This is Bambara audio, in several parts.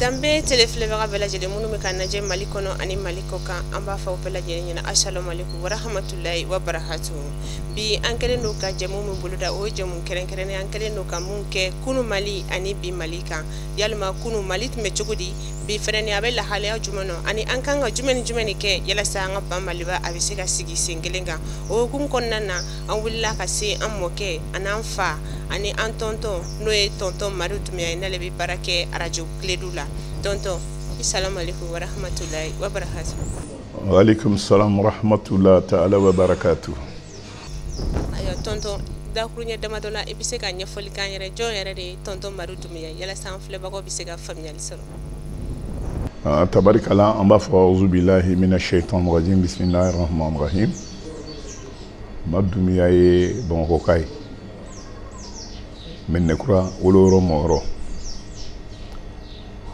danbe tele filɛbaga bɛɛ lajɛlen minnu bɛ k'an lajɛ mali kɔnɔ ani mali kɔkan an b'a fɔ aw bɛɛ lajɛlen ɲɛna asalomaleku warahamatulayi wa barakatu bi an kɛlen don ka jɛmu min boloda o ye jɛmu kɛrɛnkɛrɛnnen an kɛlen don ka min kɛ kunu mali ani bi mali kan yalima kunu mali tun bɛ cogo di bi fɛnɛ ni a bɛ lahalaya jumɛn nɔ ani an kan ka jumɛn ni jumɛn de kɛ yalasa an ka ba maliba a bɛ se ka sigi sen kelen kan o hukumu kɔnɔna na an wulila ka se an mɔkɛ an'an fa ani an tɔntɔn n'o ye tɔntɔn madu dumiya ye n'ale bɛ baara kɛ arajo kiledu la tɔntɔn asalamualeykum warahmatulahi wabarakatu waaleykum salam warahmatulahi taala wabarakatu ayiwa tɔntɔn dakuruɲɛ damadɔ la i bɛ se ka ɲɛfɔli k'an yɛrɛ jɔn yɛrɛ de ye tɔntɔn madu dumiya yalasa an filɛbagaw bɛ se ka faamuyali sɔrɔ ah, tabarikala an b'a fɔ auzubilahi mina shaitan rajim bisimilahi rahmanirahim ma dumiya ye bamakɔka ye mɛdinɛkura woloyɔrɔ mɔyɔrɔ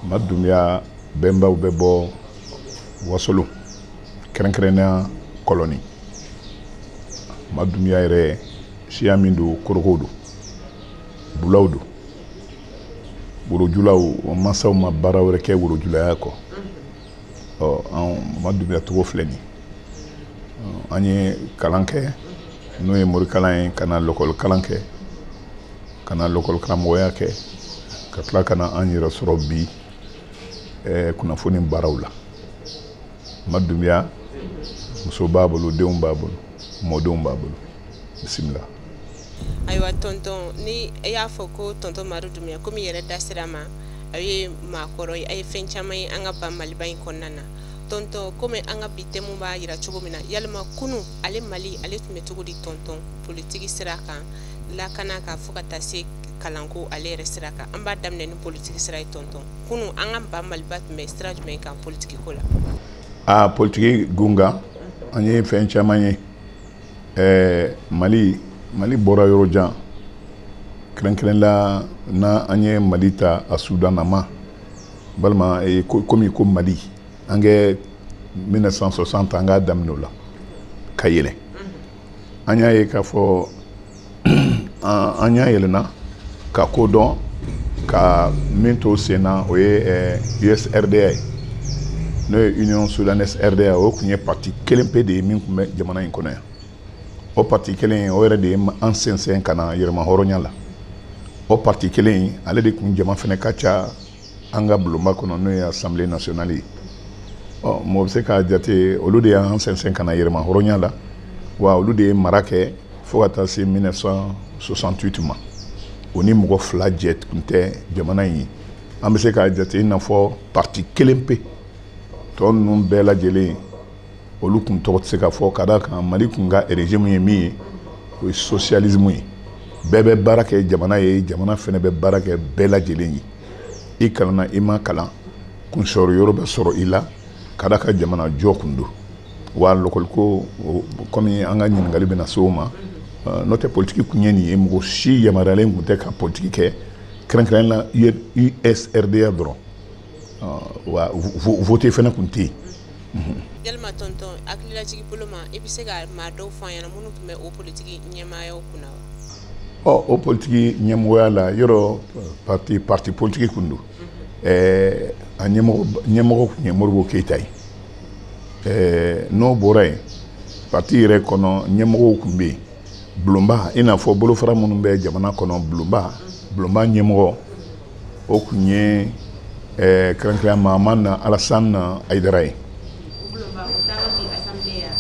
ma dumiya bɛnbaw bɛ bɔ wasolo kɛrɛnkɛrɛnnenya kɔlɔni ma dumiya yɛrɛ siya min don koorokow don bulaw don worojulaw mansaw ma baara wɛrɛ kɛ worojulaya kɔ ɔ anw ma dunbiya tugun filɛ nin an ye kalan kɛ n'o ye morikalan ye ka na lɔkɔli kalan kɛ ka na lɔkɔli karamɔgɔya kɛ ka tila ka na an yɛrɛ sɔrɔ bi eh, kunnafoni baaraw la ma dunbiya muso b'a bolo denw b'a bolo mɔdenw b'a bolo bisimila ayiwa tɔntɔn ni e y'a fɔ ko tɔntɔn madu dumiya komi yɛrɛ da sira ma a ye maakɔrɔ ye a ye fɛn caman ye an ka ba maliba in kɔnɔna na tɔntɔn komi an ka bi tɛmu b'a yira cogo min na yalima kunu ale mali ale tun bɛ cogo di tɔntɔn politiki sira kan lakanako fo ka taa se kalanko ale yɛrɛ sira kan an b'a daminɛ ni politiki sira ye tɔntɔn kunu an ka ba maliba tun bɛ sira jumɛn kan politiki ko la aa politiki gun kan an ye fɛn caman ye ɛɛ mali mali bɔra yɔrɔ jan kɛrɛnkɛrɛnla n'an ye mali ta a sudan nama walima i komi i ko mali an kɛ 1960 an k'a daminɛ o la ka yɛlɛ an y'a ye k'a fɔ an ɲɛ yɛlɛna ka ko dɔn ka min to sen na o ye usrda ye n'o ye union soudanaise rda o tun ye parti kelen pe de ye min tun bɛ jamana in kɔnɔ yan o parti kelen in o yɛrɛ de ye an sensen ka na yɛrɛmahɔrɔnya la o parti kelen in ale de tun jama fana ka ca an ka bulonba kɔnɔ n'o ye assemblée nationale ye ɔ mɔgɔ bɛ se k'a jate olu de y'an sɛnsɛn ka na yɛrɛmahɔrɔnya la wa olu de ye mara kɛ fo ka taa se 1968 ma o ni mɔgɔ fila jɛ tun tɛ jamana in ye an bɛ se k'a jate i n'a fɔ parti kelen pe tɔ ninnu bɛɛ lajɛlen olu tun tɔgɔ tɛ se ka fɔ ka d'a kan mali tun ka régime ye min ye o ye sosiyalizimu ye bɛɛ bɛ baara kɛ jamana ye jamana fana bɛ baara kɛ bɛɛ lajɛlen ye i kalanna i ma kalan kunsɔrɔ yɔrɔ bɛ sɔrɔ i la ka d'a kan jamana jɔ kun don wa lɔkɔliko kɔmi an ka ɲininkali bɛna se o ma n'o tɛ politiki kun ye nin ye mɔgɔ si yamaruyalen tun tɛ ka politiki kɛ kɛrɛnkɛrɛnnenya la usrda dɔrɔn wa vote fana tun tɛ yen yalima tɔntɔn hakililajigin bolo ma i bɛ se ka maa dɔw fɔ an ɲɛna minnu tun bɛ o politiki ɲɛmaayaw kunna wa ɔ o politiki ɲɛmɔgɔya la yɔrɔ parti parti politiki kun don ɛɛ a ɲɛmɔgɔ ɲɛmɔgɔ tun ye modibo keyita ye ɛɛ n'o bɔra yen parti yɛrɛ kɔnɔ ɲɛmɔgɔw tun bɛ yen bulonba i n'a fɔ bolofara minnu bɛ jamana kɔnɔ bulonba bulonba ɲɛmɔgɔ o tun ye eh, kɛrɛnkɛrɛnya mahamani alasan ayidara ye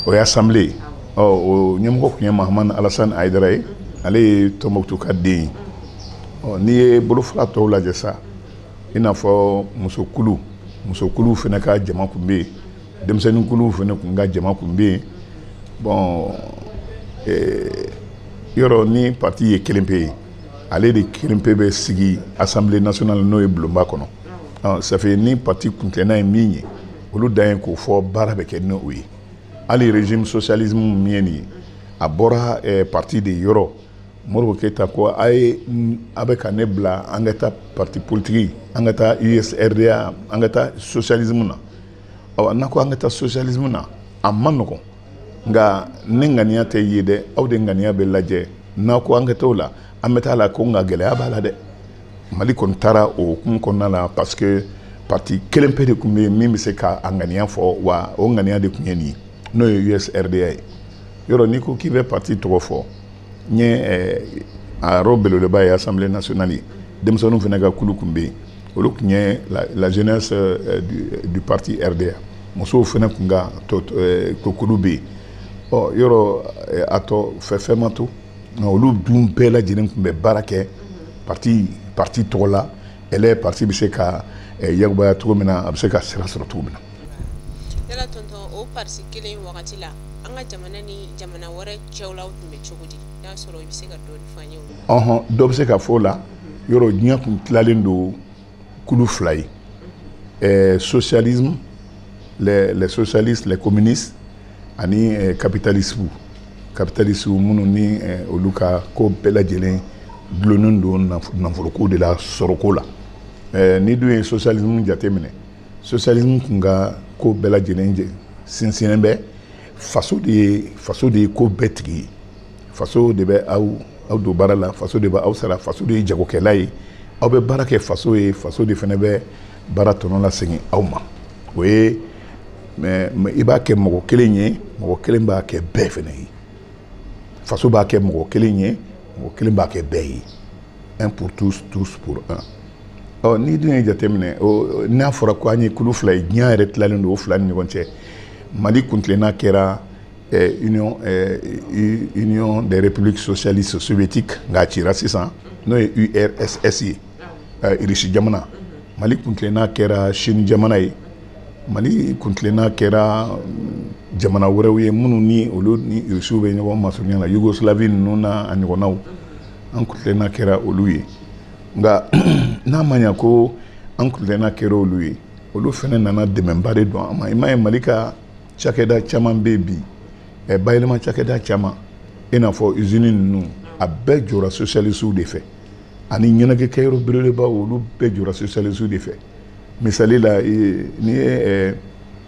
o ye asanbile ye ɔ o ɲɛmɔgɔ tun ye mahamani alasan ayidara ye ale ye tɔnbɔkutu ka den ye ɔ n'i ye bolofara tɔw lajɛ sa i n'a fɔ musokulu musokuluw fana ka jama tun bɛ yen denmisɛnninkuluw fana tun ka jama tun bɛ yen bɔn eh, yɔrɔ ni pati ye kelen pe ye ale de kelen pe bɛ sigi assemblée nationale n'o ye bulonba kɔnɔ ça fait ni pati kuntilenna ye min ye olu ta ye k'o fɔ baara bɛ kɛ n'o ye hali régime sosiyalizimu min ye nin ye a bɔra pati de yɔrɔ modibo keyita ko a ye a bɛ ka ne bila an ka taa pati politiki an ka taa usrda an ka taa sosiyalizimu na n'a ko an ka taa sosiyalizimu na a man nɔgɔn nka ne ŋaniya tɛ ye dɛ aw de ŋaniya bɛ lajɛ n'a ko an ka t'o la an bɛ taa a la ko nka gɛlɛya b'a la dɛ mali kɔni taara o hukumu kɔnɔna la parce que parti kelen pe de tun bɛ yen min bɛ se ka a ŋaniya fɔ wa o ŋaniya de tun ye nin ye n'o ye usrda ye yɔrɔ n'i ko k'i bɛ parti tɔgɔ fɔ n ye eh, a yɔrɔ belebeleba ye assemblée nationale ye denmisɛnninw fana ka kulu tun bɛ yen olu tun ye la jeunesse eh, du parti rda musow fana tun ka eh, ko kulu bɛ yen ɔ yɔrɔ a tɔ fɛ fɛn ma to nka olu dun bɛɛ lajɛlen tun bɛ baara kɛ parti parti tɔgɔ la ɛlɛ parti bɛ se ka yakubaya cogo min na a bɛ se ka sira sɔrɔ cogo min na yala tonton o pariti kelen wagati la an ka jamana ni jamana wɛrɛw cɛla tun bɛ cogo di n'a sɔrɔ i bɛ se ka dɔɔni fɔ an ye ɔhɔn dɔ bɛ se ka fɔ a la yɔrɔ diɲɛ tun tilalen don kulu fila ye ɛɛ socialisme les les socialistes les communistes ani ɛɛ capitalisme capitalistes minnu ni ɛɛ olu ka ko bɛɛ lajɛlen dulonnen don nafoloko de la sɔrɔko la ɛɛ n'i dun ye socialisme jateminɛ sosialismu tun ka ko bɛɛ lajɛlen sinsinnen bɛ faso de ye faso de ye ko bɛɛ tigi ye faso de bɛ aw aw don baara la faso de bɛ aw sara faso de ye jagokɛla ye aw bɛ baara kɛ faso ye faso de fana bɛ baara tɔnɔ lasegin aw ma o ye bɛɛ b'a kɛ mɔgɔ kelen ye mɔgɔ kelen b'a kɛ bɛɛ fana ye faso b'a kɛ mɔgɔ kelen ye mɔgɔ kelen b'a kɛ bɛɛ ye un pour tous tous pour un ɔ n'i dun ye jateminɛ o n'a fɔra ko an ye kulu fila ye diɲɛ yɛrɛ tilalen don o fila ni ɲɔgɔn cɛ mali kuntilenna kɛra eh, union eh, union des républiques socialistes soviétiques nka a cira sisan n'o ye urss ye eh, irisi jamana mali kuntilenna kɛra chine jamana ye mali kuntilenna kɛra mm, jamana wɛrɛw ye minnu ni olu ni irisiw bɛ ɲɔgɔn masurunya la yugoslavie ninnu na a ɲɔgɔnnaw an kuntilenna kɛra olu ye nka n'a ma ɲa ko an kuntilenna kɛra olu ye olu fana nana dɛmɛba de don an ma i m'a ye mali ka cakɛda caman bɛ bi ɛ bayɛlɛma cakɛda caman i n'a fɔ usini ninnu a bɛɛ jɔra sosialisiw de fɛ ani ɲɛnajɛ kɛyɔrɔ belebelebaw olu bɛɛ jɔra sosialisiw de fɛ misali la n'i ye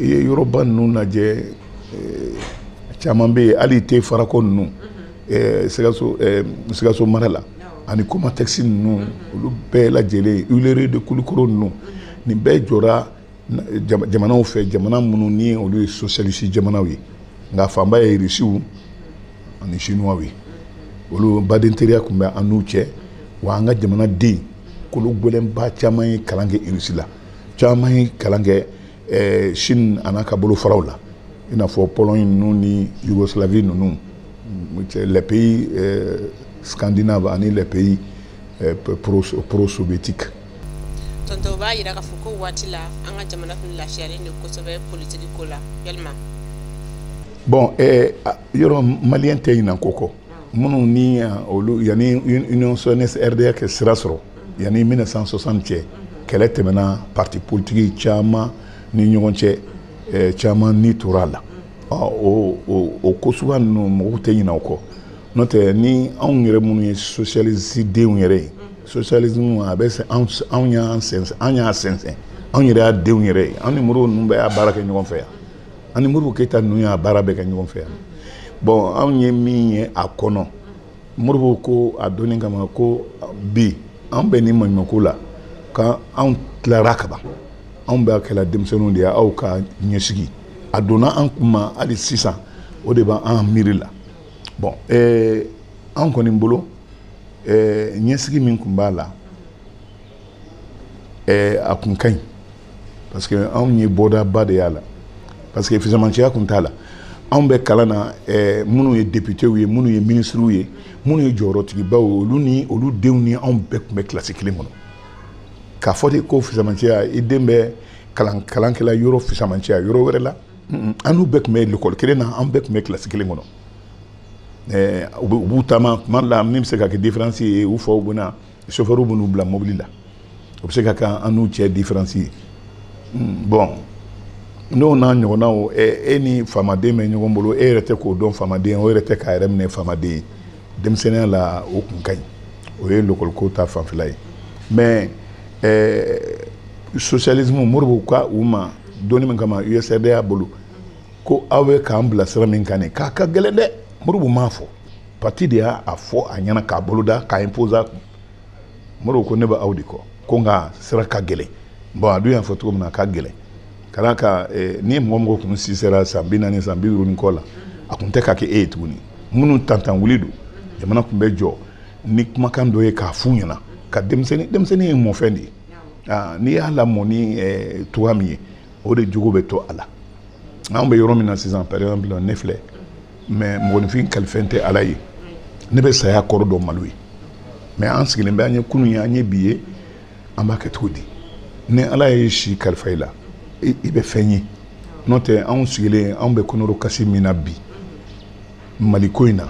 i ye yɔrɔba ninnu lajɛ eh, caman bɛ yen hali te farako ninnu mhm. eh, sikaso eh, sikaso mara la ani komatɛkisi ninnu mhm. olu bɛɛ lajɛlen huilerie de kulukoro ninnu mhm. nin bɛɛ jɔra jamanaw fɛ jamana minnu ni olu ye sosialisi jamanaw ye nka fanba ye irisiw ani sinuwaw ye olu badenteriya tun bɛ an n'u cɛ wa an ka jamanaden kolo gɛlɛnba caman ye kalan kɛ irisi la caman ye kalan kɛ ɛɛ chine an'a ka bolofaraw la i n'a fɔ pologne ninnu ni yougoslavie ninnu les pays euh, scandinave ani les pays euh, pro, pro soviétique tonton o b'a yira k'a fɔ ko waati la an ka jamana tun lafiyalen de kosɛbɛ politiki ko la yalima bon eh, yɔrɔ maliyɛn tɛ ɲinan ko kɔ minnu ni olu yanni union soudanaise rda ka sira sɔrɔ Yan ni mille neuf cent soixante cɛ kɛlɛ tɛmɛna pati politiki caman ni ɲɔgɔn cɛ caman ni tora a la o ko sugu ninnu mɔgɔ tɛ ɲina o kɔ n'o tɛ ni anw yɛrɛ minnu ye sosiyalisi denw yɛrɛ ye sosiyali a bɛ anw y'a sinsin anw yɛrɛ y'a denw yɛrɛ ye anw ni Modibo ninnu bɛɛ y'a baara kɛ ɲɔgɔn fɛ yan ani Modibo Keyita n ninnu y'a baara bɛɛ kɛ ɲɔgɔn fɛ yan bɔn anw ye min ye a kɔnɔ Modibo ko a donni kama ko bi an bɛ ni maɲumako la ka anw tilara kaban anw b'a kɛla denmisɛnninw de ye aw ka ɲɛsigi a donna an kun ma hali sisan o de b'an miiri la bɔn eh, an kɔni bolo eh, ɲɛsigi min tun b'a la eh, a kun ka ɲi parce que anw ye bɔdaba de y'a la parce que fisamanciya tun t'a la anw bɛ kalan na eh, minnu ye deputew ye minnu ye minisiriw ye minnu ye jɔyɔrɔtigibaw ye olu ni olu denw ni anw bɛɛ tun bɛ kilasi kelen kɔnɔ k'a fɔ de ko fisamanciya i den bɛ kalan kalankɛla yɔrɔ fisamanciya yɔrɔ wɛrɛ la an n'u bɛɛ tun bɛ lekɔli kelen na an bɛɛ tun bɛ kilasi kelen kɔnɔ eh, u b'u taama tuma dɔ la min bɛ se ka kɛ diferansi ye u faw bɛna sofɛriw b'u bila mobili la o bɛ se ka kɛ an n'u cɛ diferansi ye hmm, bɔn n'o n'a ɲɔgɔnnaw e ni faamaden bɛ ɲɔgɔn bolo e yɛrɛ tɛ k'o dɔn faamaden o yɛrɛ tɛ k'a yɛrɛ minɛ faamaden ye denmisɛnninya la o kun ka ɲi o ye lɔkɔliko ta fanfɛla ye mɛ sosiyalismu Modibo ka u ma donni min kama USRDA y'a bolo ko aw bɛ k'an bila sira min kan nin k'a ka gɛlɛn dɛ Modibo m'a fɔ pati de y'a fɔ a ɲɛna k'a boloda k'a imposer a kun Modibo ko ne bɛ aw de kɔ ko nka sira ka gɛlɛn bɔn a dun y'a fɔ cogo min na a ka gɛlɛn ka d'a kan eh, ni mɔgɔ mɔgɔ kun si sera san bi naani san bi duuru ni kɔ la a kun tɛ ka kɛ e ye tuguni minnu tantan wuli don jamana kun bɛ jɔ ni kumakan dɔ ye k'a f'u ɲɛna ka denmisɛnnin denmisɛnnin ye mɔfɛn de ye ah, n'i y'a lamɔ ni eh, cogoya min ye o de jogo bɛ to a la anw bɛ yɔrɔ min na sisan par exemple ne filɛ mɛ mɔgɔninfin kalifɛn tɛ ala ye ne bɛ saya kɔrɔ dɔn malo ye mɛ an sigilen bɛ an ye kunun ye an ye bi ye an b'a kɛ cogo di ni ala ye si kalifa i la i bɛ fɛn ye n'o tɛ anw sigilen anw bɛ kɔnɔrɔkasi min na bi maliko in na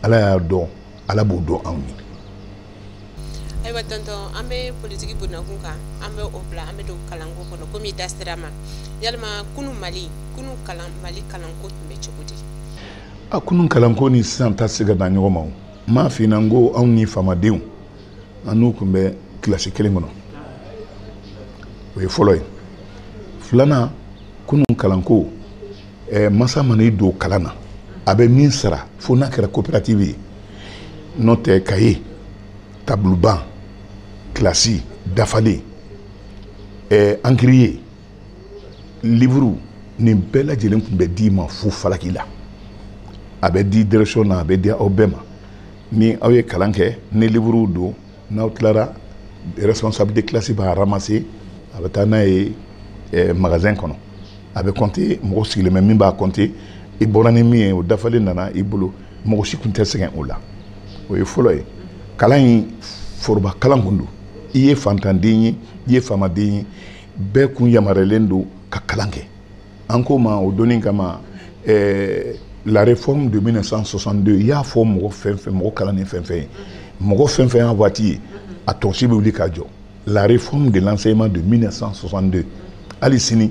ala y'a dɔn ala b'o dɔn anw ye ayiwa tɔntɔn an bɛ politiki bonnakun kan an bɛ o bila an bɛ don kalanko kɔnɔ komi i da sera a ma yalima kunun mali kunun kalan mali kalanko tun bɛ cogo di a kunun kalanko ni sisan ta se ka da ɲɔgɔn ma o m'a f'i ɲɛna ko anw ni faamadenw an n'u tun bɛ kilasi kelen kɔnɔ o ye fɔlɔ ye filanan kunun kalanko ɛɛ masa mana i don kalan na a bɛ min sara fo n'a kɛra coopérative ye n'o tɛ kaye tabuluban kilasi dafalen ɛɛ ankiriye liburu nin bɛɛ lajɛlen tun bɛ d'i ma fu falaki la a bɛ di direction na a bɛ di aw bɛɛ ma ni aw ye kalan kɛ ni liburuw don n'aw tilara responsable de classe b'a ramasser a bɛ taa n'a ye magasin kɔnɔ a bɛ kɔnte mɔgɔ sigilen bɛ min b'a kɔnte i bɔra ni min ye o dafalen nana i bolo mɔgɔ si tun tɛ sɛgɛn o la o ye fɔlɔ ye kalan in foroba kalan kun don i ye fantanden ye i ye faamaden ye bɛɛ kun yamaruyalen don ka kalan kɛ an k'o ma o donni kama ɛɛ eh, la réforme de 1962 i y'a fɔ mɔgɔ fɛn fɛn mɔgɔ kalannen fɛn fɛn ye mɔgɔ fɛn fɛn y'a waati ye a tɔnsi bɛ wuli ka jɔ la réforme de l'enseignement de 1962 hali sini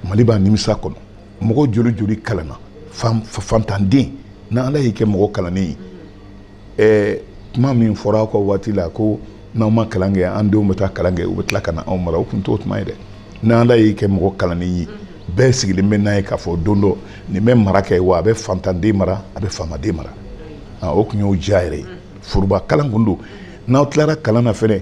mali b'a nimisa kɔnɔ mɔgɔ joli joli kalanna fantanden n'ala y'i kɛ mɔgɔ kalannen ye ɛɛ kuma min fɔra aw ka waati la ko n'aw ma kalan kɛ an denw bɛ taa kalan kɛ u bɛ tila ka na anw mara o tun t'o tuma ye dɛ n'ala y'i kɛ mɔgɔ kalannen ye bɛɛ sigilen bɛ n'a ye k'a fɔ don dɔ nin bɛ mara kɛ wa a bɛ fantanden mara a bɛ faamaden mara o tun y'o diya yɛrɛ ye foroba kalan kun don n'aw tilara kalan na fɛnɛ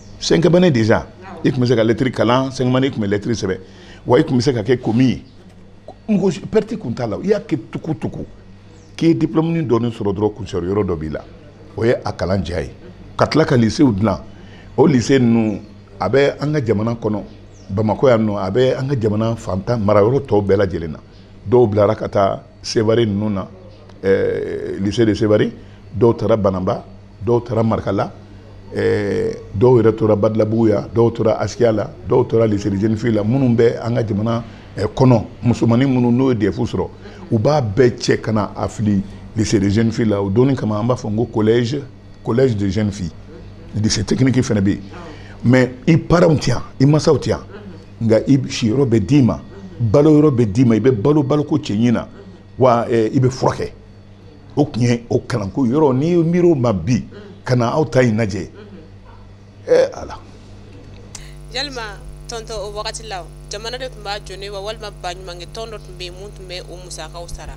cinquième année déjà i tun bɛ se ka lɛtiri kalan cinquième année i tun bɛ lɛtiri sɛbɛn wa i tun bɛ se ka kɛ commis ye mɔgɔ si pɛriti tun t'a la i y'a kɛ tuku tuku k'i ye diplɔmuni dɔɔni sɔrɔ dɔrɔn kunsɔrɔ yɔrɔ dɔ b'i la o ye a kalan diya ye ka tila ka lisew dilan o lise ninnu a bɛ an ka jamana kɔnɔ bamakɔ yan nɔ a bɛ an ka jamana fantan marayɔrɔ tɔw bɛɛ lajɛlen na dɔw bilara ka taa seware ninnu na eh, lycée de seware dɔw taara bananba dɔw taara marakala eh, dɔw yɛrɛ tora badalabugu yan dɔw tora asikiya la dɔw tora lycée de jeunes filles la minnu bɛ an ka jamana eh, kɔnɔ musomanin minnu n'u ye dɛfu sɔrɔ u b'a bɛɛ cɛ ka na a fili lycée de jeunes filles la o donni kama an b'a fɔ n ko collège collège de jeunes filles lycée technique fana bɛ yen mais i paranw tɛ yan i masaw tɛ yan nka i siyɔrɔ bɛ d'i ma balo yɔrɔ bɛ d'i ma i bɛ balo baloko cɛɲi na wa eh, i bɛ furakɛ o tun ye o kalanko yɔrɔ n'i b'i miiri o ma bi mm. ka na aw ta in lajɛ mm-hmm. ee ala yalima tonton o wagati la jamana de tun b'a jɔ n'a ye wa walima baɲumankɛ tɔn dɔ tun bɛ yen min tun bɛ o musakaw sara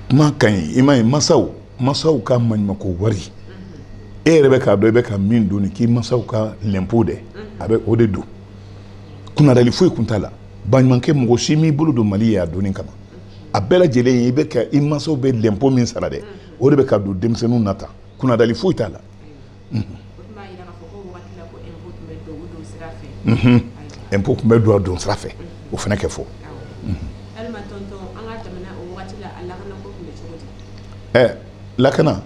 kuma ka ɲi i m'a ye masaw masaw ka maɲumako wari mm-hmm. e yɛrɛ bɛ k'a dɔn i bɛ ka min don k'i masaw ka lɛnpo dɛ mm-hmm. a bɛ o de don kunnadali foyi kun t'a la baɲumankɛ mɔgɔ si m'i bolo don mali ye a donni kama a bɛɛ lajɛlen i bɛ ka i mansaw bɛ lɛnpo min sara dɛ o de bɛ ka don denmisɛnninw na tan kunnadali foyi t'a la ɛnpo tun bɛ don a don sira fɛ o fana kɛ fɔ ɛ lakana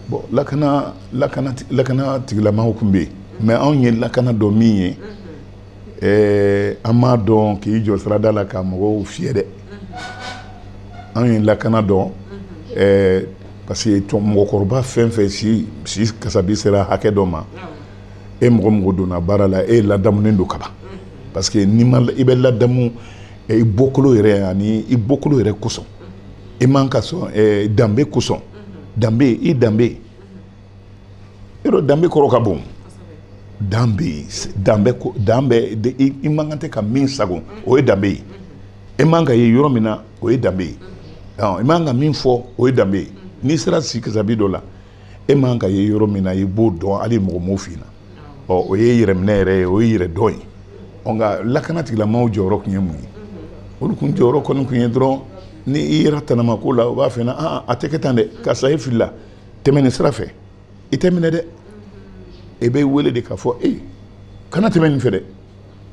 bon lakana lakana lakana tigilamaw tun bɛ yen mais anw ye lakana dɔn min ye ɛɛ an m'a dɔn k'i jɔ sirada la ka mɔgɔw fiyɛ dɛ an ye lakana dɔn ɛɛ parce que mɔgɔkɔrɔba fɛn fɛn si si kasabi sera hakɛ dɔ ma e mɔgɔ o mɔgɔ donna baara la e ladamunen don kaban parce que n'i ma i bɛ ladamu i bɔkolo yɛrɛ ani i bɔkolo yɛrɛ kosɔn i man ka sɔn danbe kosɔn danbe i danbe yɔrɔ danbe kɔrɔ ka bon dan bɛ yen danbe ko dan bɛ i man kan tɛ ka min sagon o ye danbe ye e man ka ye yɔrɔ min na o ye danbe ye i man ka min fɔ o ye danbe ye n'i sera sikasabi dɔ la e man ka ye yɔrɔ min na i b'o dɔn hali mɔgɔ m'o f'i na ɔ o ye yɛrɛminɛ yɛrɛ ye o ye yɛrɛdɔn ye ɔ nka lakana tigilamɔgɔw jɔyɔrɔ tun ye mun ye olu kun jɔyɔrɔ kɔni tun ye dɔrɔn ni i yera tanama ko la u b'a f'i na a tɛ kɛ tan dɛ karisa e filila tɛmɛ nin sira fɛ i tɛ minɛ dɛ i bɛ wele de k'a fɔ ee kana tɛmɛ nin fɛ dɛ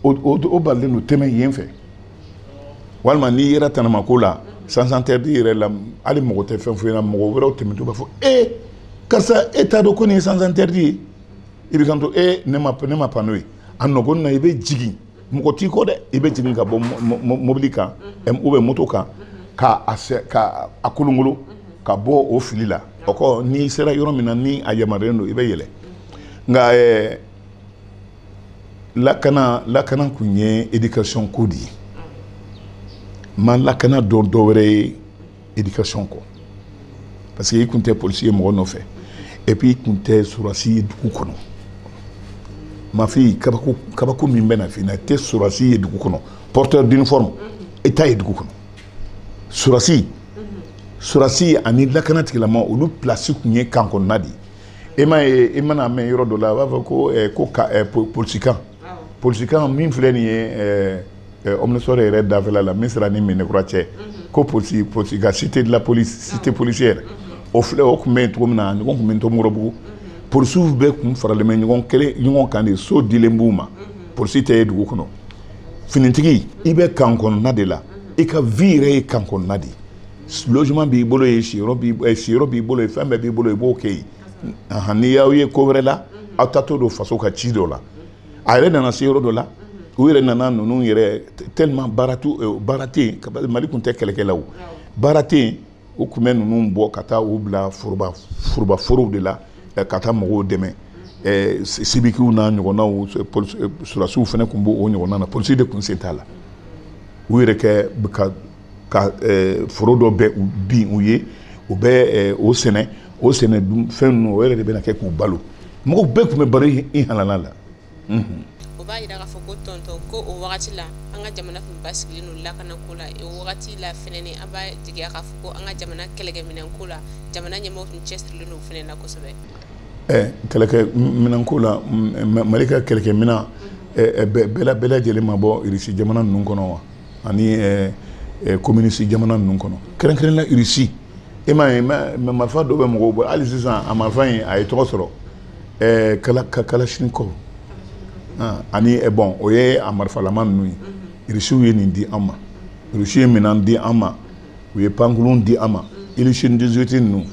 o balilen don tɛmɛ yen fɛ walima n'i yera tanama ko la sens interdit yɛrɛ la hali mɔgɔ tɛ fɛn fɔ i na mɔgɔ wɛrɛw tɛmɛtɔ b'a fɔ ee karisa e t'a dɔn ko nin ye sens interdit ye i bɛ kanto ee ne ma ne ma panneau ye a nɔgɔn na i bɛ jigin mɔgɔ t'i kɔ dɛ i bɛ jigin ka bɔ mobili kan ou bien moto kan ka a sɛ ka a kolonkolon ka bɔ o fili la o kɔ n'i sera yɔrɔ min na ni a yamaruyalen don i bɛ yɛlɛ nka ɛɛ lakana lakana tun ye éducation ko de ye n ma lakana dɔn dɔ wɛrɛ ye éducation kɔ parce que i tun tɛ polisi ye mɔgɔ nɔfɛ et puis i tun tɛ surasi ye dugu kɔnɔ mafi kabako kabako min bɛ na f'i na i tɛ surasi ye dugu kɔnɔ porteur d'uniforme i t'a ye dugu kɔnɔ surasi surasi ani lakana tigilama olu place tun ye kan kɔnɔna de ye e m'a ye i man'a mɛn yɔrɔ dɔ la a b'a fɔ ko eh, ko ka eh, po- polisikan polisikan min filɛ nin ye eh, eh, omnisports yɛrɛ dafɛla la misira ni medinakura cɛ mhm. ko polisi polisi ka cité de la police ah. cité policière mhm. o filɛ o tun bɛ yen cogo min na ɲɔgɔn tun bɛ ntomikɔrɔbugu mhm. polisiw bɛɛ tun faralen bɛ ɲɔgɔn kelen ɲɔgɔn kan de so dilen b'u ma polisi tɛ ye dugu kɔnɔ finitigi i bɛ kan kɔnɔna de la i ka vie yɛrɛ ye kan kɔnɔna de ye logement b'i bolo yen siyɔrɔ b'i eh, siyɔrɔ b'i bolo yen fɛn bɛɛ b'i bolo i b'o kɛ yen n'i y'aw ye ko wɛrɛ la aw taatɔ don faso ka ci dɔ la a yɛrɛ nana se yɔrɔ dɔ la u yɛrɛ nana ninnu yɛrɛ tellement baara t'u euh, baara tɛ yen mali tun tɛ kɛlɛkɛlaw baara tɛ yen u tun bɛ ninnu bɔ ka taa u bila foroba foroba forow de la eh, ka taa mɔgɔw dɛmɛ eh, sibikiw n'a ɲɔgɔnnaw eh, sɔrɔdasiw fana tun b'o ɲɔgɔnna na polisi de tun sen t'a la u yɛrɛ kɛ ka ka eh, foro dɔ bɛ bin u ye u bɛ eh, o sɛnɛ o sɛnɛ dunfɛn ninnu o yɛrɛ de bɛna kɛ k'u balo mɔgɔw bɛɛ tun bɛ balo i halala la o b'a yira k'a fɔ ko tɔntɔn ko o wagati la an ka jamana tun basigilen don lakana ko la o wagati la fɛnɛ ni an b'a jigiya k'a fɔ ko an ka jamana kɛlɛkɛminɛn ko la jamana ɲɛmɔgɔ tun cɛsirilen don fɛnɛ na kosɛbɛ eh, kɛlɛkɛ minɛn ko la mali ka kɛlɛkɛ minɛn eh, eh, bɛɛ bɛɛ lajɛlen ma bɔ irisi jamana ninnu kɔnɔ wa ani eh, eh, communiste jamana ninnu kɔnɔ kɛrɛnkɛrɛnla irisi e m'a ye marifa dɔ bɛ mɔgɔw bolo hali sisan a marifa in a ye tɔgɔ sɔrɔ eh, kala kalashnikov ah, ani bɔn o ye a marifalama ninnu ye irisiw ye nin di an ma irisiw ye minɛn di an ma u ye pankulun di an ma ilisini 18 ninnu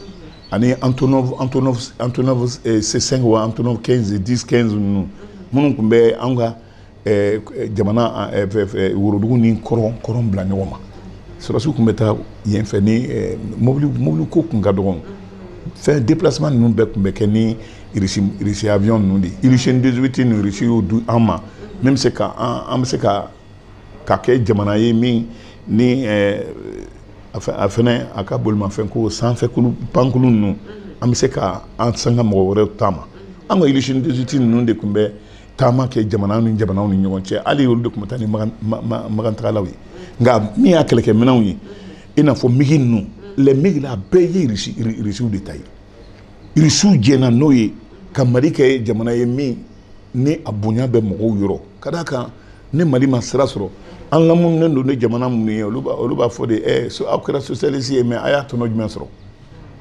ani antonov antonov antonov c5 wa antonov 15 10 15 ninnu minnu tun bɛ an ka jamana worodugu ni kɔrɔn bila ɲɔgɔn na sɔrɔdasiw tun bɛ taa yen fɛ ni mobili ko tun ka dɔgɔ fɛn déplacement ninnu bɛɛ tun bɛ kɛ nisiya ninnu de ye soviet ninnu de y'o di an ma min bɛ se k' an bɛ se ka ka kɛ jamana ye min ni a fana a ka bolomafɛn ko sanfɛ pankulun ninnu an bɛ se k' an san ka mɔgɔ wɛrɛ taama ma an ka ilisini 18 ninnu de tun bɛ taama kɛ jamana ni jamana ni ɲɔgɔn cɛ hali olu de tun bɛ taa ni makantagalaw ye nka min y'a kɛlɛkɛ minɛnw ye i n'a fɔ migi ninnu lɛ migi la a bɛɛ ye irisiw de ta ye irisiw jɛnna n'o ye ka mali kɛ jamana ye min ni a bonya bɛ mɔgɔw yɔrɔ ka d'a kan ni mali ma sira sɔrɔ an laminilen don ni jamana minnu ye olu b'a fɔ de ɛ eh, so aw kɛra sosialisi ye mɛ a y'a tɔnɔ jumɛn sɔrɔ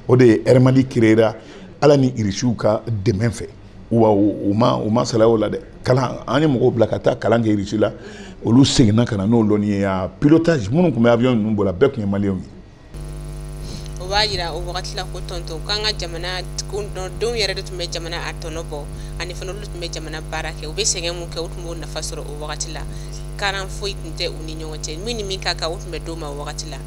o de ye air mali kireera ala ni irisiw ka dɛmɛ fɛ wa u ma u ma salaya o la dɛ kalan an ye mɔgɔw bila ka taa kalan kɛ irisi la olu seginna ka na n'o lɔnni ye a pilotage minnu tun bɛ avion ninnu boli la bɛɛ tun ye maliyɛnw ye o b'a jira o wagati la ko tɔntɔn k'an ka jamana denw yɛrɛ de tun bɛ jamana a tɔnɔ bɔ ani fana olu tun bɛ jamana baara kɛ u bɛ sɛgɛn min kɛ u tun b'o nafa sɔrɔ o wagati la karan foyi tun tɛ u ni ɲɔgɔn cɛ min ni min ka kan o tun bɛ d'o ma o wagati la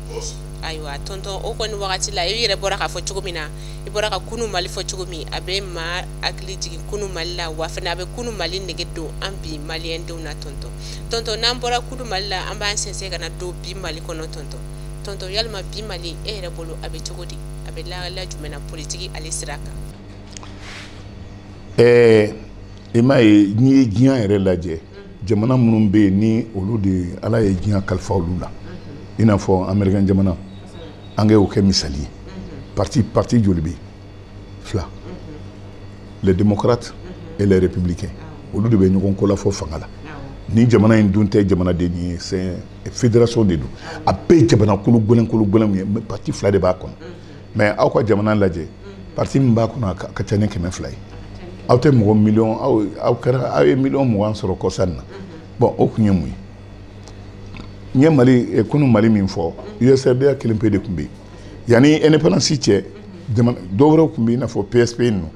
ayiwa tɔntɔn o kɔni wagati la i yɛrɛ bɔra k'a fɔ cogo min na i bɔra ka kunu mali fɔ cogo min a bɛ maa hakili jigin kunu mali la wa fana a bɛ kunu mali nege don an bi maliyɛn denw na tɔntɔn tɔntɔn n'an bɔra kunu mali la an b'an sɛnsɛn ka na don bi mali kɔnɔ tɔntɔn tɔntɔn yalima bi mali e yɛrɛ bolo a bɛ cogo di a bɛ lahala jumɛn na politiki ale sira kan ɛɛ i m'a ye n'i ye diɲɛ yɛrɛ lajɛ jamana minnu bɛ yen ni olu de ala ye diɲɛ kalifa olu la i n'a fɔ amerikɛn jamana an ka o kɛ misali ye parti parti joli bɛ fila les démocrates et les républicains olu de bɛ ɲɔgɔn kolafɔ fanga la nin jamana in dun tɛ jamanaden ye c'est fédération de don a bɛɛ ye jamana kologɛlɛn kologɛlɛnw ye mais parti fila de b'a kɔnɔ mais aw ka jamana lajɛ parti min b'a kɔnɔ a ka ca ni kɛmɛ fila ye aw tɛ mɔgɔ miliyɔn aw aw kɛra aw ye miliyɔn mugan sɔrɔ kɔsa in na bon o kun ye mun ye n ye mali eh, kunu mali min fɔ usrda kelen pe de tun bɛ yen yanni indépendance cɛ dɔ wɛrɛw tun bɛ i n'a fɔ psp ninnu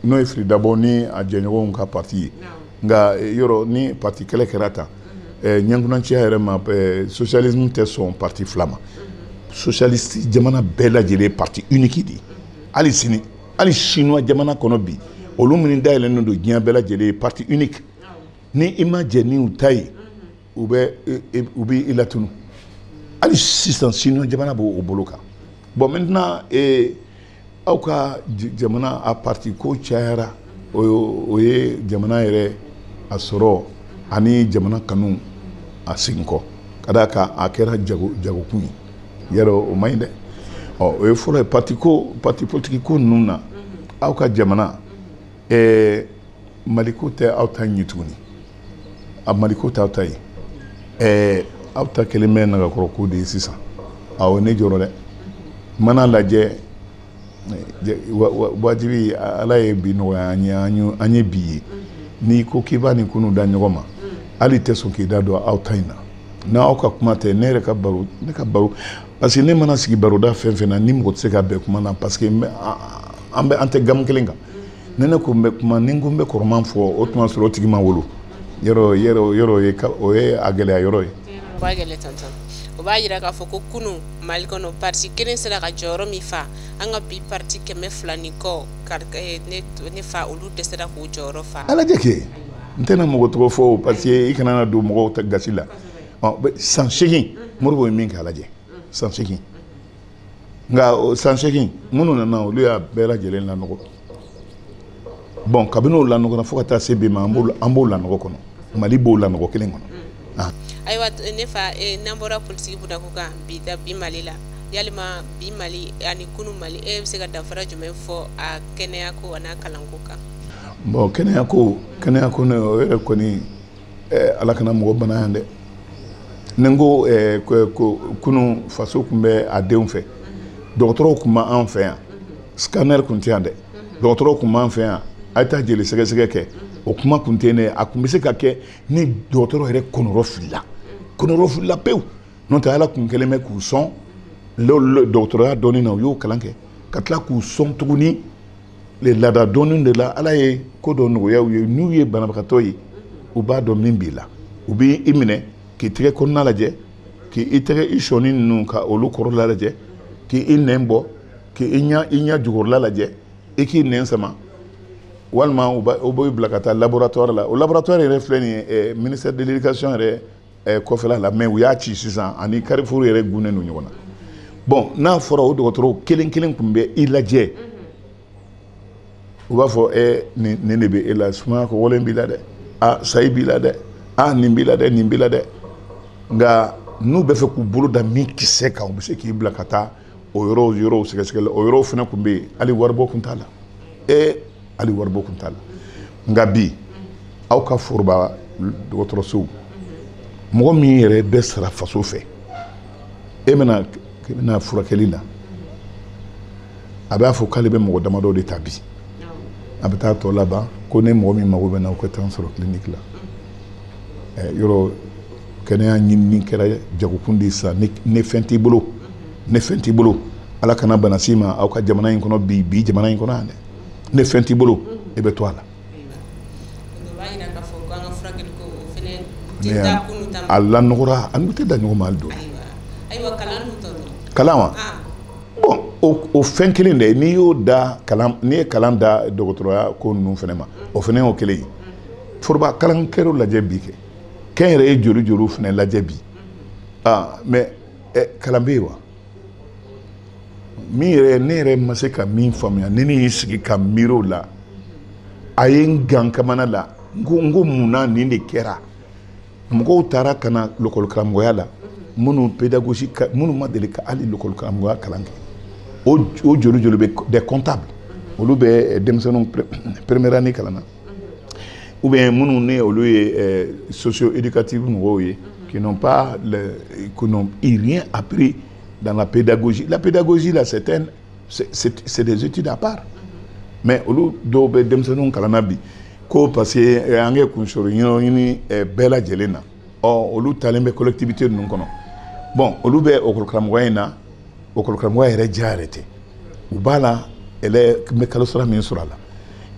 n'o ye fili dabo ni a jɛɲɔgɔnw ka parti ye nka eh, yɔrɔ ni parti kelen kɛra tan eh, ɲɛnkunanciya yɛrɛ ma socialisme tɛ sɔn parti fila ma socialiste jamana bɛɛ lajɛlen parti unique de ye hali sini hali chinois jamana kɔnɔ bi olu minnu dayɛlɛnnen don diɲɛ bɛɛ lajɛlen parti unique ni i ma jɛn ni u ta ye u bɛ u bɛ i latunu hali sisan chinois jamana bɛ o bolo kan bon maintenant ee aw ka jamana a parti ko cayara o o ye jamana yɛrɛ a sɔrɔ ani jamana kanu a segin kɔ ka d'a kan a kɛra jago jagokun ye yɛrɛ o man ɲi dɛ ɔ o ye fɔlɔ ye parti ko parti politique ko ninnu na aw ka jamana ɛɛ maliko tɛ aw ta ye tuguni a maliko t'aw ta ye ɛɛ aw ta kɛlen bɛ nagakɔrɔko de ye sisan awɔ ne jɔrɔ dɛ mana lajɛ wajibi ala ye bi nɔgɔya an ye an ye bi ye n'i ko k'i b'a ni kunu da ɲɔgɔn ma hali i tɛ sɔn k'i da don aw ta in na n'aw ka kuma tɛ ne yɛrɛ ka baro ne ka baro parce que ne mana sigi baroda fɛn fɛn na ni mɔgɔ tɛ se ka bɛn kuma na parce que an bɛ an tɛ gamu kelen kan ne ne ko n bɛ kuma ni n ko n bɛ kɔrɔman fɔ o tuma sɔrɔ o tigi ma wolo yɔrɔ yɔrɔ yɔrɔ ye o ye a gɛlɛya yɔrɔ ye. o b'a gɛlɛya tɔntɔn o b'a yira k'a fɔ ko kunun mali kɔnɔ parti kelen sera ka jɔyɔrɔ min fa an ka bi parti kɛmɛ fila ni kɔ eh, ne fa olu dɛsɛra k'o jɔyɔrɔ fa. ala jɛ kɛ n tɛna mɔgɔ tɔgɔ fɔ o parce que i kana na don mɔgɔw gasi la san seegin modibo ye min kɛ ala jɛ san seegin. nka san seegin minnu nana olu y'a bɛɛ lajɛlen lanɔgɔ bon kabini o lanɔgɔra fo ka taa se bi ma an b'o lanɔgɔ kɔnɔ mali b'o lanɔgɔ kelen kɔnɔ mm. ah. ayiwa ne fa eh, n'an bɔra politiki bunda kan bi da bi mali la yalima bi mali ani kunu mali e bɛ se ka danfara jumɛn fɔ a kɛnɛya ko an'a kalanko kan bon kɛnɛya ko kɛnɛya ko ne o yɛrɛ kɔni ɛɛ ala kana mɔgɔ bana yan dɛ ni n ko ɛɛ ko ko kunu faso tun bɛ a denw fɛ dɔgɔtɔrɔw tun b'an fɛ yan scanner tun tɛ yan dɛ dɔgɔtɔrɔw tun b'an fɛ yan a ye taa jeli sɛgɛsɛgɛ kɛ o kuma tun tɛ yen a tun bɛ se ka kɛ ni dɔgɔtɔrɔ yɛrɛ kɔnɔrɔfilila kɔnɔrɔfilila pewu n'o tɛ ala tun kɛlen bɛ k'u sɔn dɔgɔtɔrɔya dɔɔnin na u y'o kalan kɛ ka tila k'u sɔn tuguni le laada dɔɔni de la ala ye ko dɔ nɔgɔya u ye n'u ye banabagatɔ ye u b'a dɔn min b'i la u bɛ i minɛ k'i tɛgɛ kɔnɔna lajɛ k'i i tɛgɛ i sɔnin ninnu ka olu kɔrɔla lajɛ k'i i nɛn bɔ k'i i ɲɛ i ɲɛ jukɔrɔla lajɛ i k'i nɛn sama walima u b'i bila ka taa laboratoire la o laboratoire yɛrɛ filɛ nin ye eh, ministère de l'éducation yɛrɛ eh, kɔfɛla la mais u y'a ci sisan ani carrefour yɛrɛ gunnen don ɲɔgɔn na bon n'a fɔra o dɔgɔtɔrɔw kelen kelen tun bɛ i lajɛ u b'a fɔ eh, nin nin de bɛ e la sumaya kɔgɔlen b'i la dɛ a sayi b'i la dɛ a nin b'i la dɛ nin b'i la dɛ nka n'u b'a fɛ k'u bolo da min kisɛ kan u bɛ se k'i bila ka taa o yɔrɔw yɔrɔw sɛgɛsɛgɛli o yɔrɔw fana tun bɛ yen hali waribɔ tun t'a la ee hali waribɔ tun t'a la nka bi aw ka foroba dɔgɔtɔrɔsow mɔgɔ min yɛrɛ bɛ sara faso fɛ e bɛ na k'i bɛ na furakɛli la a b'a fɔ k'ale bɛ mɔgɔ damadɔ de ta bi a bɛ taa tɔ laban ko ni mɔgɔ min mago bɛ n na o ka taa n sɔrɔ kiliniki la yɔrɔ kɛnɛya ɲinini kɛra jagokun de sa ni fɛn t'i bolo ni fɛn t'i bolo ala kana bana s'i ma aw ka jamana in kɔnɔ bi bi jamana in kɔnɔ yan dɛ ni fɛn t'i bolo e bɛ to a la a lanɔgɔra an tɛ da ɲɔgɔn ma don kalan wa o fɛn kelen de n'i y'o da n'i ye kalan da dɔgɔtɔrɔya ko ninnu fana ma o fana y'o kelen ye foroba kalankɛ lajɛ bi kɛ kɛnyɛrɛye joli joliw fana lajɛ bi ah mais eh, kalan bɛ yen wa min yɛrɛ ne yɛrɛ ma se ka min faamuya ni ne y'i sigi ka miiri o la a ye n gan kamana la n ko n ko mun na nin de kɛra mɔgɔw taara ka na lɔkɔlikaramɔgɔya la minnu pédagogie minnu ma deli ka hali lɔkɔlikaramɔgɔya kalan kɛ o o joli joli bɛ des comptables olu bɛ denmisɛnninw première année kalan na ou bien minnu ne olu ye euh, socio éducative mɔgɔw ye qui n'ont pas le, qui n'ont rien appris dans la pédagogie la pédagogie là c'est un c'est des études à part mais olu dɔw bɛ denmisɛnninw kalanna bi ko parce que eh, an kɛ kunsoro ɲɛɲini eh, bɛɛ lajɛlen na or olu talen bɛ collectivité ninnu kɔnɔ bon olu bɛ lakɔli karamɔgɔya in na lakɔli karamɔgɔya diya yɛrɛ tɛ u b'a la ɛlɛ n bɛ kalo sara min sɔrɔ a la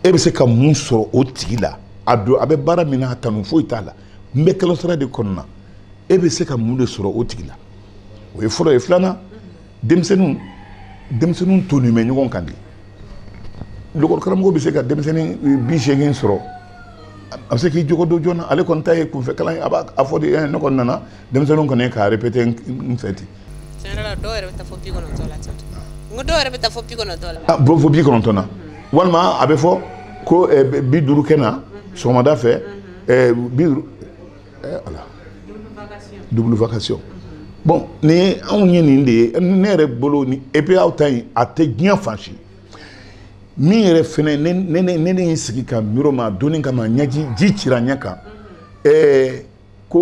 e bɛ se ka mun sɔrɔ o tigi la a don a bɛ baara min na a kanu foyi t'a la n bɛ kalo sara de kɔnɔna e bɛ se ka mun de sɔrɔ o tigi la o ye fɔlɔ ye filanan denmisɛnninw denmisɛnninw tonnen bɛ ɲɔgɔn kan de lakɔli karamɔgɔ bɛ se ka denmisɛnnin bi seegin sɔrɔ a bɛ se k'u jogo dɔn joona ale kɔni ta ye kunfɛ kalan ye a b'a fɔ de ɛ ne kɔni nana denmisɛnninw kɔni ka répété n fɛ ten tiɲɛ yɛrɛ la dɔw yɛrɛ bɛ taa fɔ bi kɔnɔntɔn la ten n ko dɔw yɛrɛ bɛ taa fɔ bi kɔnɔntɔn la ah, bon fɔ bi kɔnɔntɔn na walima a bɛ fɔ ko eh, bi duuru ka na sɔgɔmada fɛ eh, bi duuru eh, wula double vacation bon ni anw ye nin de ye ne yɛrɛ bolo ni et puis aw ta in a tɛ diɲɛ fan si min yɛrɛ fɛnɛ ne ne ne ne ye sigi ka miiri o ma a donni kama ɲɛji ji cira ɲɛ kan ɛɛ ko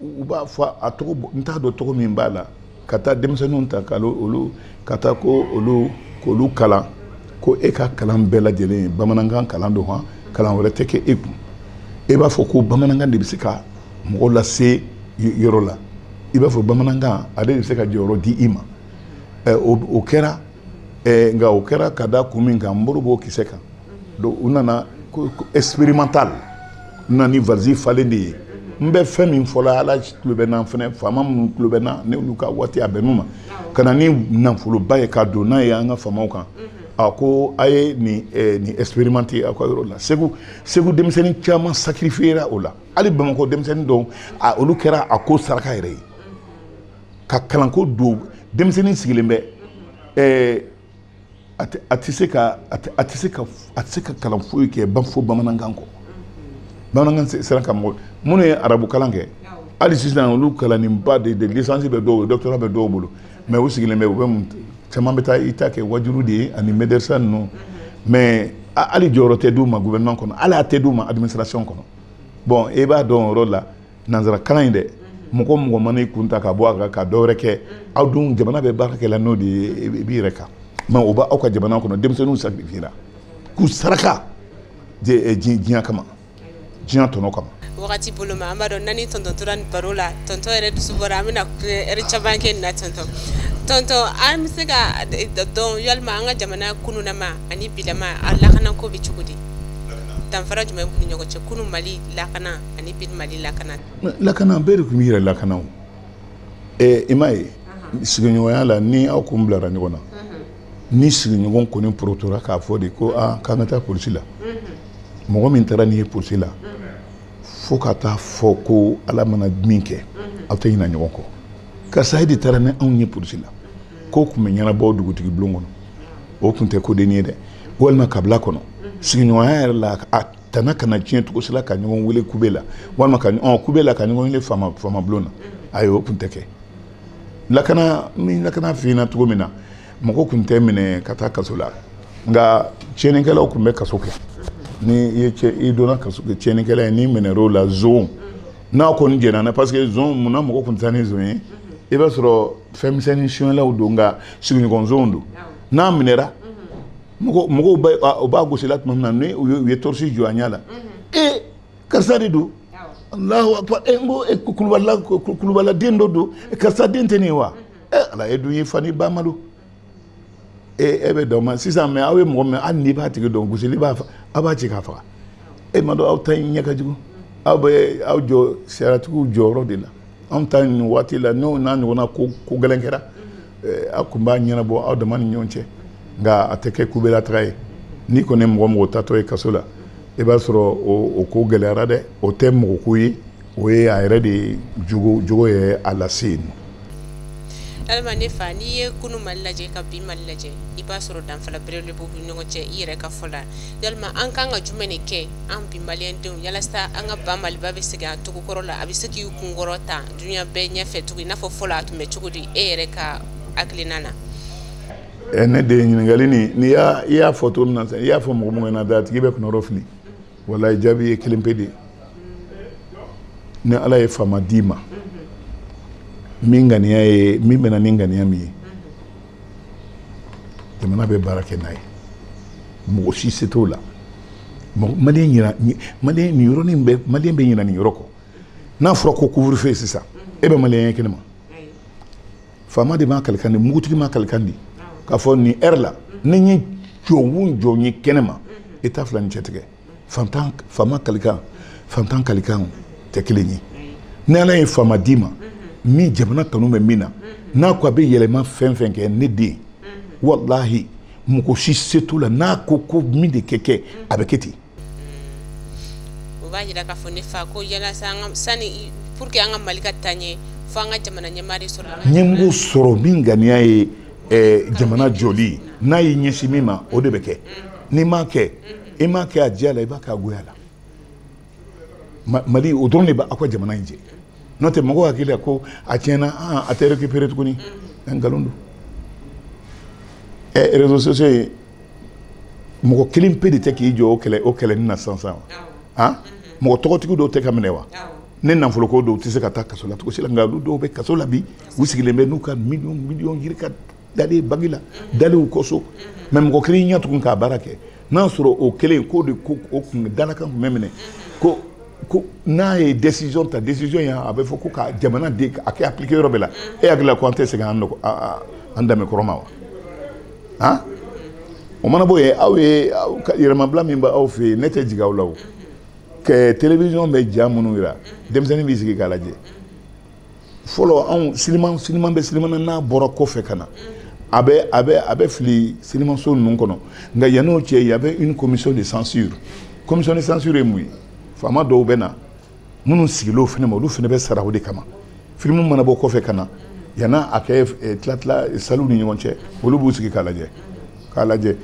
u b'a fɔ a tɔgɔ n t'a dɔn tɔgɔ min b'a la ka taa denmisɛnninw ta ka olu ka taa ko olu k'olu kalan ko e ka kalan bɛɛ lajɛlen ye bamanankan kalan don hɔn kalan wɛrɛ tɛ kɛ e kun e b'a fɔ ko bamanankan de bɛ se ka mɔgɔ lase yɔrɔ la i b'a fɔ bamanankan ale de bɛ se ka jɔyɔrɔ di i ma o kɛra eh, nka o kɛra ka da kun min kan n bolo b'o kisɛ kan donc u nana expérimental n na ni valisi falen de ye n bɛ fɛn min fɔla ala tulo bɛ n na fɛnɛ faama minnu tulo bɛ n na n'olu ka waati a bɛn'u ma ka na ni nafoloba ye ka don n'a ye an ka faamaw kan a ko a ye nin eh, nin expérimenter aw ka yɔrɔ la segu segu denmisɛnnin caman sacrifiera o la hali bamakɔ denmisɛnnin dɔw a olu kɛra a ko saraka yɛrɛ ye ka kalanko don denmisɛnnin sigilen bɛ ɛɛ a tɛ se ka a tɛ se ka a tɛ se ka kalan foyi kɛ fo bamanankan kɔ bamanankan sera ka mɔgɔ minnu ye arabu kalan kɛ hali sisan olu kalannenba de don lisansi bɛ dɔw doctorat bɛ dɔw bolo mais u sigilen bɛ u bɛ mun caman bɛ taa i ta kɛ wajuli de ye ani mɛdɛrisa ninnu mais hali jɔyɔrɔ tɛ d'u ma gouvernement kɔnɔ hali a tɛ d'u ma administration kɔnɔ bon e b'a dɔn o yɔrɔ la nanzara kalan in dɛ mɔgɔ mɔgɔ mana i kun ta ka bɔ a kan ka dɔ wɛrɛ kɛ aw dun jamana bɛ baara kɛ la n'o de ye i b'i yɛrɛ kan mɛ aw b'aw ka jamana kɔnɔ denmisɛnninw sacrifiera k'u saraka diɲɛ kama diɲɛ tɔnɔ kama wagati bolo ma an b'a dɔn n'an ni tɔntɔn tora nin baro la tɔntɔn yɛrɛ dusu bɔra an bɛna ɛri caman kɛ nin na tɔntɔn tɔntɔn an bɛ se k'a dɔn yalima an ka jamana kununama ani bilama a lakana ko bɛ cogo di danfara jumɛn b'u ni ɲɔgɔn cɛ kunun mali lakana ani bi mali lakana lakana bɛɛ de tun b'i yɛrɛ lakana o ɛɛ i m'a ye sigiɲɔgɔnya la ni aw kun bilara ɲɔgɔn na ni sigiɲɔgɔn kɔni porotora k'a fɔ de ko aa k'an ka taa polisi la mɔgɔ min taara n'i ye polisi la fo ka taa fɔ ko ala mana min kɛ aw tɛ ɲina ɲɔgɔn kɔ karisa e de taara ni anw ye polisi la ko tun bɛ ɲɛnabɔ dugutigi bulon kɔnɔ o tun tɛ ko dennin ye dɛ walima kabila kɔnɔ sigiɲɔgɔnya yɛrɛ la a tana kana tiɲɛ cogo si la ka ɲɔgɔn wele kube la walima ka ɔ kube la ka ɲɔgɔn wele faama faama bulon na ayi o tun tɛ kɛ lakana ni lakana tiɲɛna cogo min na mɔgɔ tun tɛ minɛ ka taa kaso la nka tiɲɛnikɛlaw tun bɛ kaso kɛ ni i ye cɛ i donna kaso kɛ tiɲɛnikɛla ye n'i minɛr'o la zon n'a kɔni jɛnna na parce que zon munna mɔgɔ tun tɛ taa ni zon ye i b'a sɔrɔ fɛn misɛnnin sonyɛlaw don nka sigiɲɔgɔn zonw don n'a minɛra mɔgɔw bɛ u b'a gosila tuma min na ni u ye torisi jɔ a ɲɛ la ee karisa de don alahu akbar e n ko e kulubala kulubala den dɔ don karisa den tɛ nin ye wa ɛ eh, ala e dun y'i fa n'i ba malo e e bɛ dɔn ma sisan mais aw ye mɔgɔ minɛ hali n'i b'a tigi dɔn gosili la aw b'a ci k'a faga e m'a dɔn aw ta in ɲɛ ka jugu aw bɛ aw jɔ sariyatigiw jɔyɔrɔ de la anw ta nin waati la n'o n'a ɲɔgɔnna ko ko gɛlɛn kɛra eh, aw tun b'a ɲɛnabɔ aw dama ni ɲɔgɔn cɛ nka a tɛ kɛ kube la taga ye n'i kɔni ye mɔgɔ o mɔgɔ taatɔ ye kaso la i b'a sɔrɔ o ko gɛlɛyara dɛ o tɛ mɔgɔko ye o ye a yɛrɛ de jogo jogo ye a lase yen alima ne fa n'i ye kunu mali lajɛ ka bi mali lajɛ i b'a sɔrɔ danfara belebele b'u ni ɲɔgɔn cɛ i yɛrɛ ka fɔ la yalima an kan ka jumɛn de kɛ an bi maliyɛndenw yalasa an ka ba maliba bɛ segin a tɔgɔ kɔrɔ la a bɛ se k'i kunkɔrɔta duniya bɛɛ ɲɛfɛ tugun i n'a fɔ fɔlɔ a tun bɛ cogo di e yɛrɛ ka hakilina na eh, ne de ye ɲininkali nin n'i y'a i y'a fɔ cogo min na sisan i y'a fɔ mɔgɔ mɔgɔ ɲɛna da a tigi bɛ kɔnɔrɔ fili walayi jaabi ye kelen pe de ye ni ala ye faama d'i ma min ŋaniya ye min bɛna ni ŋaniya min ye jamana bɛ baara kɛ n'a ye mɔgɔ si se t'o la maliyɛn ɲina maliyɛn nin yɔrɔnin bɛ maliyɛn bɛ ɲina nin yɔrɔ kɔ n'a fɔra ko couvre-feu sisan e bɛ maliyɛn ye kɛnɛma faama de maa kalikan di mugutigi maa kalikan di k'a fɔ nin ɛri la ni n ye jɔn o jɔn ye kɛnɛ ma i t'a fila ni cɛ tigɛ fantan faama kalikan fantan kalikan tɛ kelen ye ni ala ye faama d'i ma min jamana kanu bɛ min na n'a ko a bɛ yɛlɛma fɛn fɛn kɛ ne den walahi mɔgɔ si se t'o la n'a ko ko min de kɛ kɛ a bɛ kɛ ten o b'a jira k'a fɔ ne fa ko yala sani pour que an ka mali ka taa ɲɛ fo an ka jamana ɲɛmaa de sɔrɔ ɲɛmɔgɔ sɔrɔ min ŋaniya ye eh, jamana jɔli n'a y'i ɲɛsin min ma o de bɛ kɛ n'i m'a kɛ i m'a kɛ a diya la i b'a kɛ a goya la mali o dɔrɔn de bɛ aw ka jamana in jɛ n'o tɛ mɔgɔw hakili la ko a tiɲɛna ah, a tɛ récupérer tuguni nkalon don eh, réseaux sociaux ye mɔgɔ kelen pe de tɛ k'i jɔ o kɛlɛ o kɛlɛ nin na sisan sisan han mɔgɔ tɔgɔtigi dɔw tɛ ka minɛ wa n ɲɛ na fɔlɔ ko dɔw tɛ se ka taa kaso la cogo si la nka olu dɔw bɛ kaso la bi u sigilen bɛ n'u ka miliyɔn miliyɔn yirika dalen banki la dalen u kɔ so mɛ mɔgɔ kelen ɲɛ tugun k'a baara kɛ n'a sɔrɔ o kelen k'o de ko o kun dalakan kun bɛ minɛ ko ko n'a ye décision ta décision in a bɛ fɔ ko ka jamana de a kɛ appliquer yɔrɔ bɛɛ la e hakili la ko an tɛ segin an nɔgɔ an danbe kɔrɔ ma wa han o mana bɔ yen aw ye yɛrɛmabila min bɛ aw fɛ yen ne tɛ jigin aw la o kɛ television bɛ ja minnu jira denmisɛnnin b'i sigi k'a lajɛ fɔlɔ anw siliman siliman bɛ siliman n'a bɔra kɔfɛ ka na a bɛ a bɛ a bɛ fili silimanso ninnu kɔnɔ nka yann'o cɛ y avait une commission de censure commission de censure ye mun ye faama dɔw bɛ na minnu sigilen o fana ma olu fana bɛ sara o de kama filimu mana bɔ kɔfɛ ka na yanni a kɛ eh, tilatila eh, saliw ni ɲɔgɔn cɛ olu b'u sigi k'a lajɛ k'a lajɛ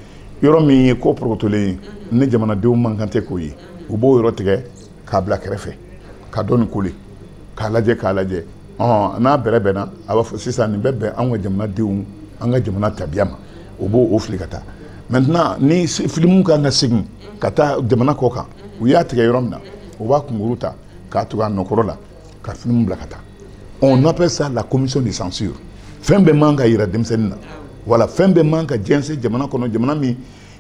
yɔrɔ min ye ko porokotolen ye ni jamanadenw man kan tɛ k'o ye u b'o yɔrɔ tigɛ k'a bila kɛrɛfɛ ka tɔ nin coller k'a lajɛ k'a lajɛ ɔn n'a bɛrɛbɛnna a b'a fɔ sisan nin bɛ bɛn anw ka jamanadenw an ka jamana tabiya ma u b'o fili ka taa maintenant ni filimu ka kan ka segin ka taa jamana kɔkan u y'a tigɛ yɔrɔ min na u b'a kunkurun ta k'a tugu a nɔ kɔrɔ la ka filimu bila ka taa on appelle ça la commission de censure fɛn bɛɛ man ka yira denmisɛnnin na wala fɛn bɛɛ man ka jɛnsɛn jamana kɔnɔ jamana min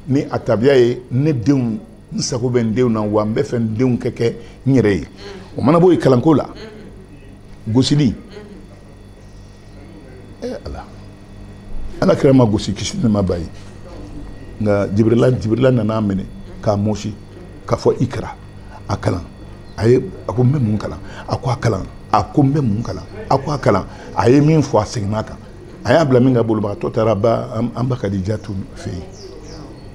ni a tabiya ye ne denw n sago bɛ n denw na wa n bɛ fɛ n denw kɛ kɛ n yɛrɛ ye o mana bɔ yen kalanko la gosili ee ala ala kira ma gosi kisi ni nɛɛma b'a ye nka jibirila jibirila nana a minɛ k'a mɔsi k'a fɔ iqra a kalan a ye a ko n bɛ mun kalan a ko a kalan a ko n bɛ mun kalan a ko a kalan a ye min fɔ a seginna a kan a y'a bila minkɛ a bolibagatɔ taara ba an an ba kadijatu fɛ yen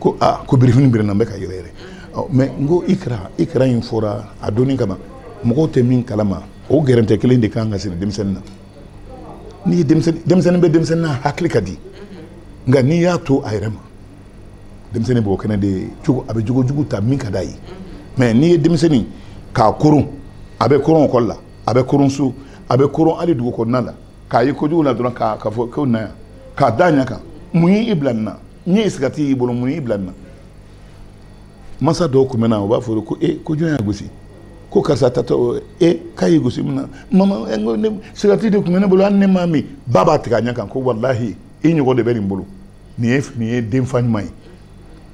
ko a ko birifini biri n na n bɛ ka yɛrɛyɛrɛ ɔ mɛ n ko iqra iqra in fɔra a dɔnni kama mɔgɔw tɛ min kalama o gɛrɛntɛ kelen de ka kan ka siri denmisɛnnin na n'i ye denmisɛnnin denmisɛnnin bɛ denmisɛnnin na hakili ka di nka n'i y'a to a yɛrɛ ma denmisɛnnin b'o kɛnɛ de cogo a bɛ jogo jugu ta min ka d'a ye mɛ n'i ye denmisɛnnin k'a koron a bɛ koron ekɔli la a bɛ koron so a bɛ koron hali dugu kɔnɔna la k'a ye kojugu la dɔrɔn k'a ka fɔ ko na yan k'a da ɲɛ kan mun y'i bila nin na n ye sigati y'i bolo mun y'i bila nin na masa dɔw tun bɛ na u b'a fɔ ko e ko jɔn y'a gosi ko karisa tatɔ e k'a y'i gosi mun na mama e, ko ne sigati de tun bɛ ne bolo hali ne m'a min ba b'a tigɛ a ɲɛ kan ko walahi i ɲɔgɔn de bɛ nin bolo nin ye nin ye denfa ɲuman ye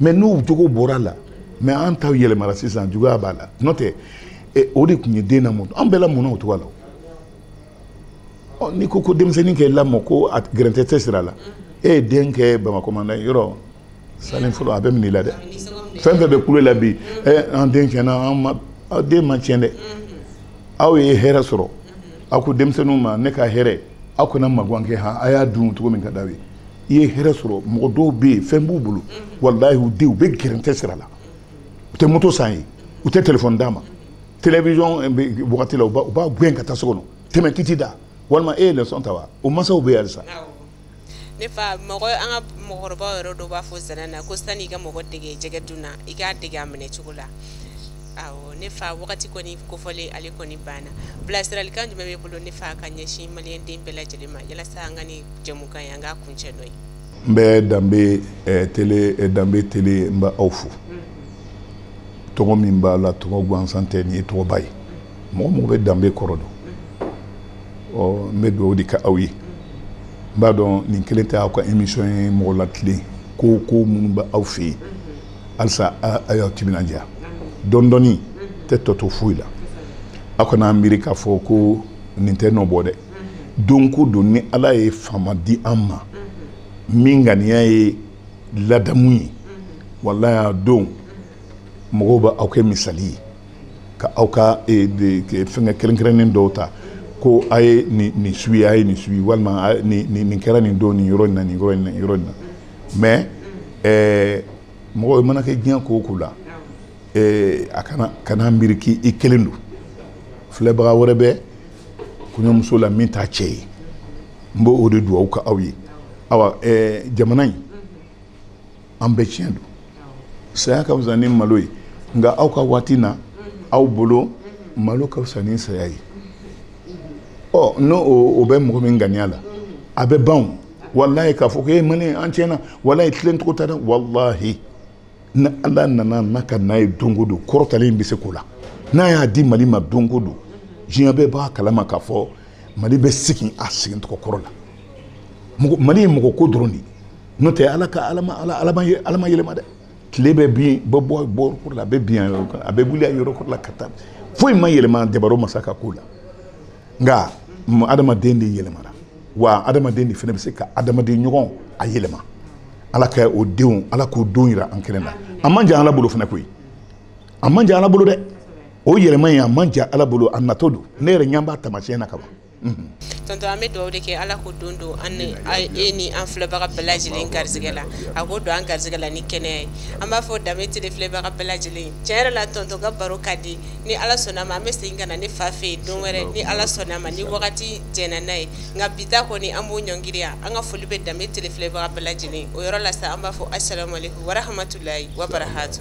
mɛ n'u jogo bɔra a la mɛ an taw yɛlɛmara sisan juguya b'a la n'o tɛ e, o de tun ye den na mun an bɛɛ la mun na o cogoya la ɔ n'i ko ko denmisɛnnin kɛ lamɔ ko a gɛrɛntɛ tɛ sira la e ye den kɛ bamakɔ manda yɔrɔ salen fɔlɔ a bɛ minɛ i la dɛ fɛn fɛn bɛ kule la bi ɛ an den tiɲɛna an ma aw den ma tiɲɛ dɛ aw ye hɛrɛ sɔrɔ aw ko denmisɛnninw ma ne ka hɛrɛ aw kana magan kɛ han a y'a dun cogo min ka d'aw ye i ye hɛrɛ sɔrɔ mɔgɔ dɔw bɛ yen fɛn b'u bolo walahi u denw u bɛ gɛrɛntɛ sira la u tɛ moto san a ye u tɛ telefɔni d'a ma télévision eh, wagati la u b'a gɛn ka taa so kɔnɔ tɛmɛ k'i t'i da walima e ye leçon ta wa o mansaw bɛ yen halisa ne fa mɔgɔ an ka mɔgɔkɔrɔbaw yɛrɛ dɔw b'a fɔ nsana na ko sanni i ka mɔgɔ dege jɛgɛ dun na i k'a dege a minɛ cogo la awɔ ne fa wagati kɔni kofɔlen ale kɔni banna bilasiralikan jumɛn b'i bolo ne fa ka ɲɛsin maliyɛn den bɛɛ lajɛlen ma yalasa an ka nin jɛmukan in an k'a kuncɛ n'o ye n bɛ danbe eh, tele eh, danbe tele n bɛ aw fo tɔgɔ min b'a la tɔgɔ gansan tɛ nin ye tɔgɔba ye mɔgɔ o mɔgɔ bɛ danbe kɔrɔ dɔn ɔ n bɛ dugawu de kɛ aw ye n b'a dɔn nin kelen tɛ aw ka émission ye mɔgɔ latilen ko ko minnu bɛ aw fɛ yen halisa a y'aw timinandiya dɔɔni dɔɔni tɛ tɔ to foyi la aw kana miiri k'a fɔ ko nin tɛ nɔ bɔ dɛ don ko don ni ala ye faama di an ma min ŋaniya ye ladamu ye walayi a don mɔgɔw bɛ aw kɛ misali ye ka aw ka e, fɛngɛ kelen kelen dɔw ta ko a ye nin suivi a ye nin suivi walima nin kɛra nin don nin yɔrɔ in na nin yɔrɔ in na yɔrɔ in na mɛ ɛɛ mɔgɔ i mana kɛ diɲɛ ko o ko la ɛɛ a kana kana miiri k'i i kelen don filɛbaga wɛrɛ bɛ kɔɲɔmuso la min t'a cɛ ye n bɛ o de dugawu kɛ aw ye awa ɛɛ jamana in an bɛ tiɲɛ don saya ka fisa ni malo ye nka aw ka waati na aw bolo malo ka fisa ni saya ye ɔ n'o o bɛ mɔgɔ min ŋaniya la a bɛ ban walayi k'a fɔ ko e mali yan tiɲɛna walayi tilen cogo tɛ dɛ walayi ni ala nana n'a ka n'a ye don o don kɔrɔtalen bɛ se ko la n'a y'a di mali ma don o don diɲɛ bɛɛ b'a kalama k'a fɔ mali bɛ segin a segin tɔgɔ kɔrɔ la mali ye mɔgɔ ko dɔrɔn de ye n'o tɛ ala ka ala ma yɛlɛma dɛ tile bɛ bin bɔ bɔ bɔ la a bɛ bin yɔrɔ kan a bɛ wuli yɔrɔ la ka taa foyi ma yɛlɛma dabaa masa ka ko la nka adamaden de yɛlɛmana wa adamaden de fana bɛ se ka adamaden ɲɔgɔn a yɛlɛma ala ka o don ala k'o don jira an kɛnɛ na a man jan ala bolo fana koyi a man jan ala bolo dɛ o yɛlɛma in a man jan ala bolo a natɔ don ne yɛrɛ ɲɛ b'a taamasiyɛn na ka ban tonton an bɛ dugawu de kɛ ala k'o don don an ni e ni an filɛbaga bɛɛ lajɛlen garisɛgɛ la a k'o don an garisɛgɛ la ni kɛnɛya ye an b'a fɔ danbe tele filɛbaga bɛɛ lajɛlen tiɲɛ yɛrɛ la tonton ka baro ka di ni ala sɔnna ma an bɛ segin ka na ne fa fɛ yen don wɛrɛ ni ala sɔnna ma ni wagati jɛnna n'a ye nka bi ta kɔni an b'o ɲɔngiri yan an ka foli bɛ danbe tele filɛbaga bɛɛ lajɛlen o yɔrɔ la sa an b'a fɔ asalamualeykum warahamatulayi wabarakatu